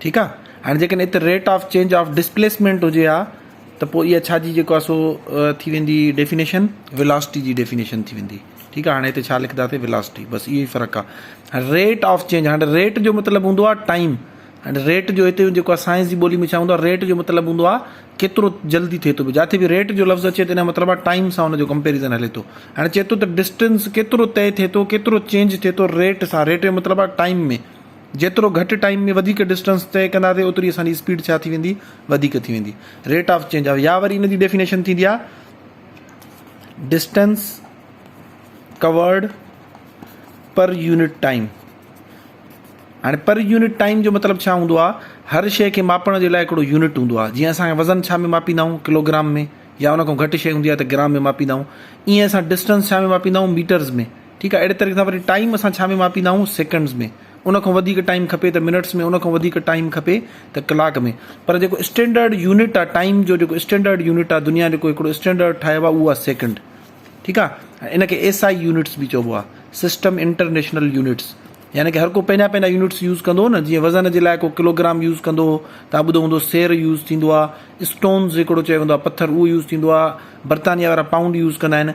ٺيڪ آ هاڻي جيڪڏهن هت rate of change of displacement هجي ها ته پوء اها ڇا جي جيڪو آهي سو ٿي ويندي ڊيفينيشن ولاسٽي جي ڊيفينيشن ٿي ويندي ٺيڪ آهي هاڻي هتي ڇا لکنداسي ولاسٽي بس اهو ئي فرق آهي ريٽ آف چينج هاڻي ريٽ جو مطلب هوندو آهي ٽائيم هاڻي ريٽ جو هتي جيڪو آهي سائنس جي ٻولي ۾ ڇا هوندو آهي ريٽ جو مطلب هوندو آهي ڪيترو جلدي ٿئي ٿو جاٿي به ريٽ جو لفظ اچي ته ان جو مطلب آهي ٽائيم سان هن جو ڪمپيرزن هلي ٿو هاڻي چئي ٿو ته ڊسٽنس ڪيترو طئي ٿئي ٿو ڪيترو چينج ٿئي ٿو ريٽ سان ريٽ جو مطلب آهي ٽائيم ۾ جيترو گهٽ ٽائيم ۾ وڌيڪ ڊسٽنس طئي ڪنداسين اوتري اسان جي اسپيڊ ڇا ٿي ويندي وڌيڪ ٿي ويندي ريٽ آف چينج آف يا وري ان جي ڊيفينيشن ٿيندي آ distance covered per unit time ها پر يونٽ ٽائيم جو مطلب ڇا هوندو آ هر شيء کي ماپڻ جي لاء هڪڙو يونٽ هوندو آ جيئن اسان وزن ڇا ۾ ماپيندا آهيون ڪلوگرام ۾ يا ان کان گهٽ شيء هوندي آ ته گرام ۾ ماپيندا آهيون ايئن اسان ڊسٽنس ڇا ۾ ماپيندا آهيون ميٽرز ۾ ٺيڪ آهي اهڙي طريقي سان وري ٽائيم اسان ڇا ۾ ماپيندا آهيون سيڪنڊز ۾ ان کان وڌيڪ ٽائيم کپي ته منٽس ۾ ان کان وڌيڪ ٽائيم کپي ته ڪلاڪ ۾ پر جيڪو اسٽينڊرڊ يونٽ آهي ٽائيم جو جيڪو اسٽينڊرڊ يونٽ آهي دنيا جيڪو هڪڙو اسٽينڊرڊ ٺاهيو آهي اهو آهي سيڪنڊ ٺيڪ آهي ان کي ايس آئي يونٽس به چئبو آهي سسٽم انٽرنيشنل يونٽس يعني ڪي هر ڪو پنهنجا پنهنجا يونٽس يوز ڪندو نه جيئن وزن جي لاء ڪو ڪلوگرام يوز ڪندو هو تان ٻڌو هوندو سير يوز ٿيندو آهي اسٽونز هڪڙو چيو ويندو آهي پٿر اهو يوز ٿيندو آهي برطانيا وارا پائونڊ يوز ڪندا آهن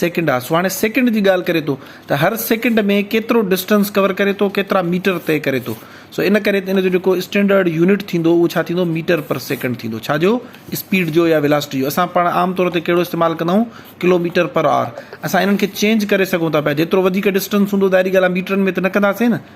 سيڪنڊ آسو هاڻي سيڪنڊ جي ڳالهه ڪري ٿو ته هر سيڪنڊ ۾ ڪيترو ڊسٽنس ڪور ڪري ٿو ڪيترا ميٽر طئي ڪري ٿو سو ان ڪري ان جو جيڪو اسٽينڊرڊ يونٽ ٿيندو اهو ڇا ٿيندو ميٽر پر سيڪنڊ ٿيندو ڇا جو اسپيڊ جو يا ولاسٽي جو اسان پاڻ عام طور تي ڪهڙو استعمال ڪندا آهيون ڪلو ميٽر پر آر اسان انهن کي چينج ڪري سگهون ٿا پيا جيترو وڌيڪ ڊسٽنس هوندو ظاهري ڳالهه آهي ميٽرن ۾ ته نه ڪنداسين نه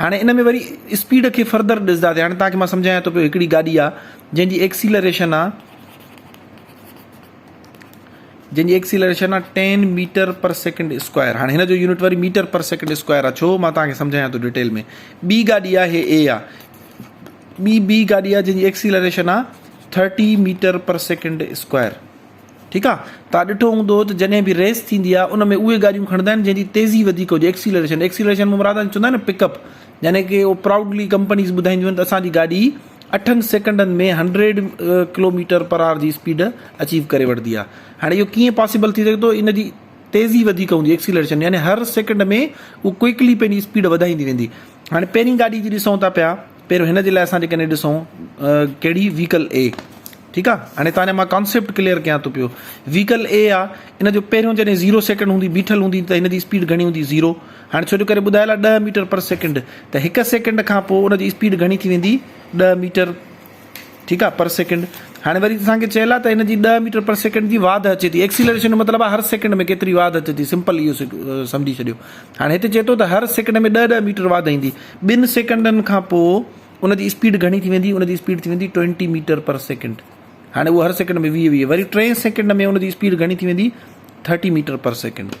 هاڻي ان ۾ وري اسپيڊ کي فردر ڏسداسين هاڻي توهان کي مان سمجهايان ٿو پيو هڪڙي گاڏي آ جنهن جي ايڪسيلريشن آ جنهن جي ايڪسيلريشن آ 10 ميٽر پر سيڪنڊ اسڪوائر هاڻي هن جو يونٽ وري ميٽر پر سيڪنڊ اسڪوائر آ ڇو مان توهان کي سمجهايان ٿو ڊيٽيل ۾ ٻي گاڏي آ هي اي آ ٻي ٻي گاڏي آ جنهن جي ايڪسيلريشن آ 30 ميٽر پر سيڪنڊ اسڪوائر ٺيڪ آ تان ڏٺو هوندو ته جڏهن به ريس ٿيندي آ ان ۾ اهي گاڏيون کڻندا آهن جنهن جي تيزي وڌيڪ هجي ايڪسيلريشن ايڪسيلريشن مان مراد چوندا آهن نه پڪ اپ يعني ڪي اهو پرائوڊلي ڪمپنيز ٻڌائينديون آهن ته اسان جي گاڏي اٺن سيڪنڊن ۾ هنڊريڊ ڪلوميٽر پر آر جي اسپيڊ اچيو ڪري وٺندي آ هاڻي اهو ڪيئن پاسيبل ٿي سگهي ٿو ان جي تيزي وڌيڪ هوندي ايڪسيلريشن يعني هر سيڪنڊ ۾ اهو ڪوئڪلي پنهنجي اسپيڊ وڌائيندي ويندي هاڻي پهرين گاڏي جي ڏسون ٿا پيا پهريون هن جي لاء اسان جيڪڏهن ڏسون ڪهڙي ويڪل اي ٺيڪ آ هاڻي تاني مان ڪانسيپٽ ڪليئر ڪيان ٿو پيو ويڪل اي آ ان جو پهريون جڏهن زيرو سيڪنڊ هوندي بيٺل هوندي ته هن جي اسپيڊ گهڻي هوندي زيرو هاڻي ڇو جو ڪري ٻڌايل آ ڏهه ميٽر پر سيڪنڊ ته هڪ سيڪنڊ کان پوء ان جي اسپيڊ گهڻي ٿي ويندي ڏهه ميٽر ٺيڪ آ پر سيڪنڊ هاڻي وري اسان کي چيل آ ته ان جي ڏهه ميٽر پر سيڪنڊ جي واڌ اچي ٿي ايڪسيلريشن جو مطلب آ هر سيڪنڊ ۾ ڪيتري واڌ اچي ٿي سمپل اهو سمجهي ڇڏيو هاڻي هتي چي ٿو ته هر سيڪنڊ ۾ ڏهه ڏهه ميٽر واڌ ايندي ٻن سيڪنڊن کان پو ان جي اسپيڊ گهڻي ٿي ويندي ان جي اسپيڊ ٿي ويندي ٽوئنٽي ميٽر پر سيڪنڊ هاڻي اهو هر سيڪنڊ ۾ ويهه ويهه وري ٽئين سيڪنڊ ۾ ان جي اسپيڊ گهڻي ٿي ويندي ٿرٽي ميٽر پر سيڪنڊ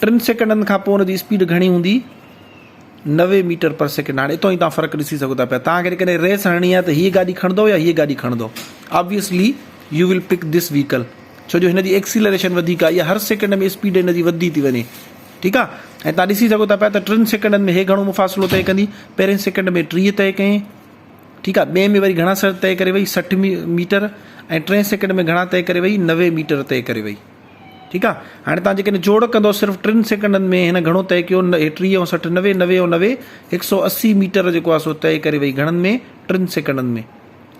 ٽن سيڪنڊن کان پوء ان جي اسپيڊ گهڻي هوندي نوي ميٽر پر سيڪنڊ هاڻي اتان ئي توهان فرق ڏسي سگهو ٿا پيا توهان کي ڪڏهن ريس هڻڻي آهي ته هيء گاڏي کڻندو يا هيء گاڏي کڻندو آبويسلي يو ول پڪ ڌس ويهڪل ڇو جو هن جي ايڪسيلريشن وڌيڪ آهي يا هر سيڪنڊ ۾ اسپيڊ هن جي وڌندي ٿي وڃي ٺيڪ آهي ۽ توهان ڏسي سگهو ٿا پيا ته ٽن سيڪنڊن ۾ هي گهڻو مفاصلو طئي ڪندي پهرين سيڪنڊ ۾ ٽيهه طئي ڪئي ٺيڪ آهي ٻئي ۾ وري گهڻا سر طئي ڪري وئي سٺ ميٽر ۽ ٽئين سيڪنڊ ۾ گهڻا طئي ڪري وئي نوي ميٽر طئي ڪري وئي ٺيڪ آ هاڻي توهان جيڪڏهن جوڙ ڪندؤ صرف ٽن سيڪنڊن ۾ هن گهڻو طئي ڪيو ٽيهه ۽ سٺ نوي نوي ۽ نوي هڪ سؤ اسي ميٽر جيڪو آ سو طئي ڪري وئي گهڻن ۾ ٽن سيڪنڊن ۾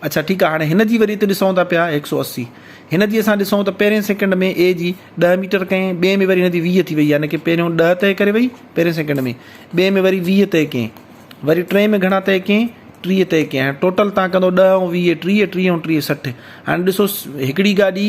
اڇا ٺيڪ آ هاڻي هن جي وري هتي ڏسون ٿا پيا هڪ سؤ اسي هن جي اسان ڏسون ته پهرين سيڪنڊ ۾ اي جي ڏهه ميٽر ڪئين ٻئي ۾ وري هن جي ويهه ٿي وئي يعني ڪي پهريون ڏهه طئي ڪري وئي پهرين سيڪنڊ ۾ ٻئي ۾ وري ويهه طئي ڪئين وري ٽئين ۾ گهڻا طئي ڪئين ٽيهه طئي ڪئين هاڻي ٽوٽل تان ڪندو ڏهه ۽ ويهه ٽيهه ٽيهه ۽ ٽيهه سٺ هاڻي ڏسو هڪڙي گاڏي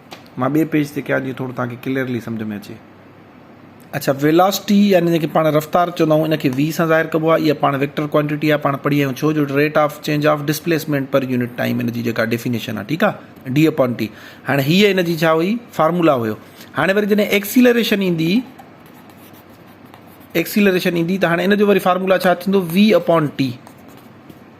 مان ٻئي پيج تي ڪيان جيئن ٿورو توهان کي ڪليئرلي سمجهه ۾ اچي. اڇا ويلاسٽي يعني جنهن کي پاڻ رفتار چوندا آهيون ان کي V سان ظاهر ڪبو آهي اها پاڻ ويڪٽر ڪوانٽيٽي آهي پاڻ پڙهي آهيون ڇو جو rate of change of displacement per unit time ان جي جيڪا ڊيفينيشن آهي ٺيڪ آهي ڊي اپون ٽي هاڻي هي ان جي ڇا هئي فارمولا هيو هاڻي وري جڏهن ايڪسيلريشن ايندي ايڪسيلريشن ايندي ته هاڻي ان جو وري فارمولا ڇا ٿيندو V اپون ٽي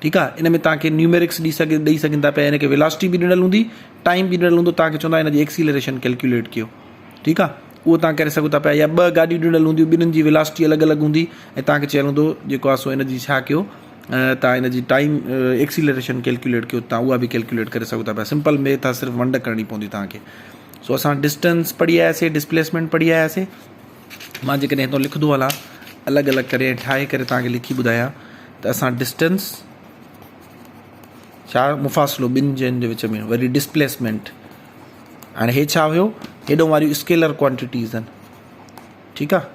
ٺيڪ آ ان ۾ توهان کي نيوميرڪس ڏي سگهي ڏئي سگهن ٿا پيا ان کي ويلاسٽي به ڏنل هوندي ٽائيم به ڏنل هوندو توهان کي چوندا هن جي ايڪسيلريشن ڪيلڪيوليٽ ڪيو ٺيڪ آ اهو توهان ڪري سگهو ٿا پيا يا ٻه گاڏيون ڏنل هونديون ٻنهن جي ويلاسٽي الڳ الڳ هوندي ۽ توهان کي چيل هوندو جيڪو آ سو ان جي ڇا ڪيو توهان ان جي ٽائيم ايڪسيلريشن ڪيلڪيوليٽ ڪيو توهان اها به ڪيلڪيوليٽ ڪري سگهو ٿا پيا سمپل ميٿ آ صرف ونڊ ڪرڻي پوندي توهان کي سو اسان ڊسٽنس پڙهي آياسي ڊسپليسمينٽ پڙهي آياسي مان جيڪڏهن هتان لکندو هلان الڳ الڳ ڪري ۽ ٺاهي ڪري توهان کي لکي ٻڌايان ته اسان ڊسٽنس ڇا مفاصلو ٻن جين جي وچ ۾ وري ڊسپليسمينٽ هاڻي هي ڇا هيو هيڏو واريون اسڪيلر ڪوانٽيٽيز آهن ٺيڪ آهي